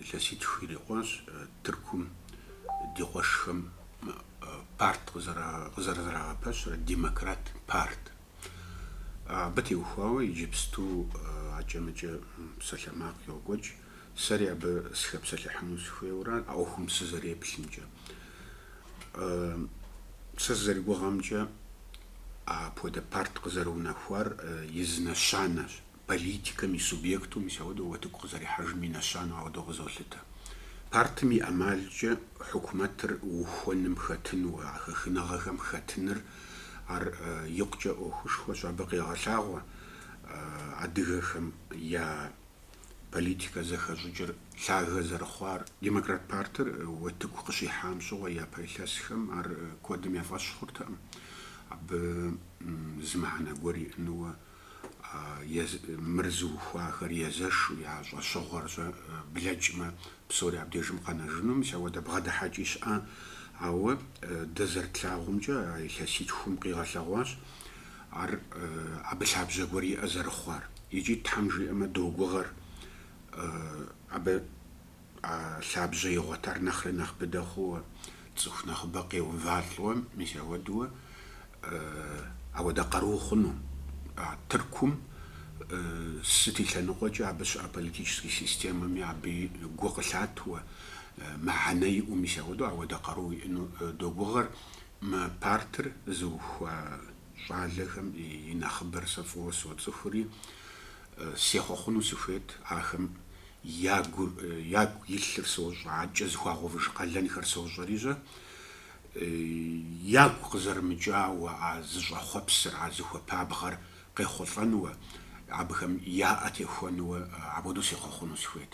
Илъэситху ирикъуащ Тыркум ди къуэшхэм парт къызэрызэрагъэпэщрэ, Демократ парт. Абы теухуауэ иджыпсту ӏэкӏэмыкӏэ псалъэмакъ йокӏуэкӏ, сэри абы сыхэпсэлъыхьыну сыхуейуэрэ, а ӏуэхум сызэреплъымкӏэ. Сэ сызэригугъэмкӏэ, апхуэдэ парт къызэрыунэхуар и зы нэщанэщ. Политикэм и субъекту мис ауэдэу уэтыку къызэрихьэжым и нэщанэу ауэдэу къызолъытэ. Партым и ӏэмалкӏэ хьукумэтыр ухуэным хэтыну, а хэхыныгъэхэм хэтыныр ар икъукӏэ ӏуэхушхуэщ. Абы къегъэлъагъуэ адыгэхэм я политикэ зэхэщӏыкӏыр лъагэ зэрыхъуар. Демократ партыр уэтыку къыщихьам щыгъуэ япэ илъэсхэм ар куэдым я фӏэщ хъуртэкъым. Абы зы мыхьэнэ гуэр иӏэнууэ Мыр зыухуахэр езэшу я щӏэщыгъуэр блэкӏмэ, псори абдежым къэнэжыну, мис ауэдэ бгъэдыхьэкӏи щыӏащ. Ауэ дэ зэрытлъагъумкӏэ, а илъэситхум къигъэлъэгъуащ ар абы лъабжьэ гуэр иӏэ зэрыхъуар. Икӏи, Тхьэм жиӏэмэ, догугъэр абы. А лъабжьэ игъуэтар нэхъри нэхъ быдэ хъууэ, цӏыху нэхъыбэ къеувалӏэуэ, мис ауэдууэ, ауэдэ къару хъуну. А Тыркум сыт и лъэныкъуэкӏэ абы щыӏэ политическэ системэми абы гу къылъатууэ, мыхьэнэ иӏэу, мис ауэдэу ауэдэ къару иӏэну догугъэр. Мы партыр зыухуа щӏалэхэм и нэхъыбэр сэ фӏыуэ соцӏыхури, сехъуэхъуну сыхуейт ахэм Ягур, ягу илъыр сощӏэ, абкӏэ зыхуагъэувыж къалэнхэр сощӏэри, щэ, ягу къызэрымыкӏауэ а зыщӏэхъуэпсыр, а зыхуэпабгъэр къехъулӏэнуэ, абыхэм яӏэ техуэнуэ, апхуэдэу сехъуэхъуну сыхуейт.